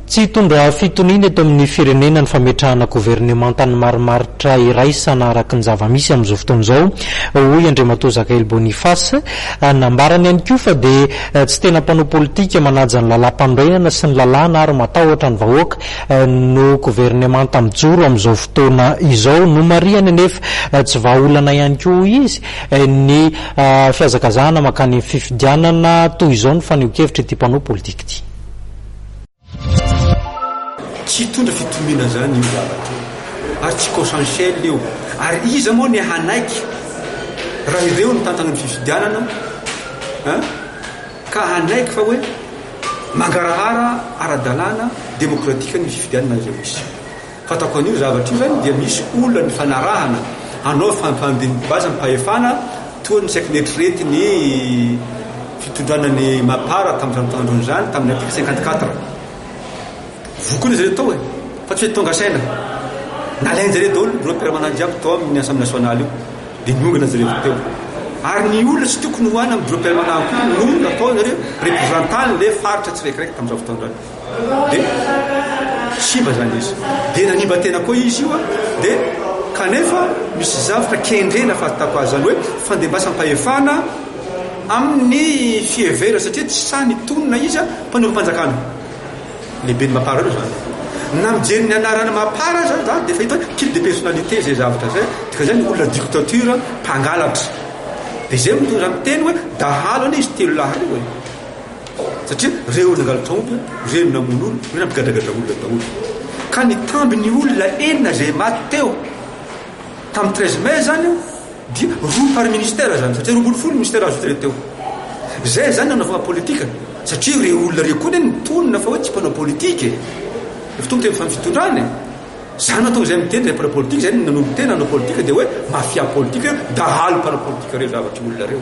Tsy hitondra fitoniana eto amin'ny firenena ny fametrahana governemantan'ny marimaritra iraisana araka ny zava-misy amin'izao fotoana izao, hoy Andriamatoa Zakaely Boniface. Nambarany ihany koa fa dia tsy tena mpanao politika manaja ny lalàm-panorenana sy ny lalàna ary matahotra ny vahoaka no governemanta mijoro amin'izao fotoana izao. Nomarihany anefa tsy vahaolana ihany koa, hoy izy, ny fihazakazahana mankany amin'ny fifidianana toy izao ny fanehoan-kevitra ity mpanao politika. Egypte. Tsy hitondra fitoniana izany io zavatra io ary tsy consensuel io ary iza moa ny hanaiky raha ireo nitantana ny fifidianana an ka hanaiky fa hoe mangarahara ara-dalàna demokratika ny fifidianana izay misy. Fantako an'io zavatra io zany dia misy olona nifanarahana hanao fandidim-bazam-pahefana toa ny saiky neritreretin' ny fitondran' ny Mapar tamin'izany taona irony izany, tamin'ny article cinquante quatre. Voky hono izy ireo tao e! Fa tsy hoe tonga saina. Nalain-jareo daholo ireo mpiara-manany jiaby tao amin'ny Assemblée nationale io, dia niongana izy ireo teo. Ary ny olona tsy tokony ho any amin'ireo mpiara-manany koa no nataon'ireo reprezantan'ilay faritra tsiraikiraiky tamin'izany fotoana izany. de simba zany izy de nanimba tena koa izy io a de kanefa misy zavatra kendrena fahatako azy zany hoe fandembasampahefana amin'ny fihevera satria tsy sahy nitonona izy a mpanompanjakana lehibe ny mapara io zany na mijery ny anarana mapara zany za de fahita hoe kil de personnalité zay zavatra zay dika zay ny olona dictature mpangalatra de zay mitondra miteny hoe dahalo anie izy telo lahy reo e satria reo nangalatra omby, reo namono olona, reo nampigadragadra olona daholo. Ka nitamby ny olona enina izay maty teo tamin'ny 13 mai zany dia roa par ministère zany satria roa ambin'ny folo ministère azo traité teo. Zay zany nanaovana politika satria reo olona reo koa ny tonina fa hoe tsy mpanao politika e. Efa tonga teo amin'ny fitondrana e. Zany nahatonga izay miteny izay mpanao politika izay nanombo tena hanao politika dia hoe mafia politika, dahalo mpanao politika reo zavatr'olona reo.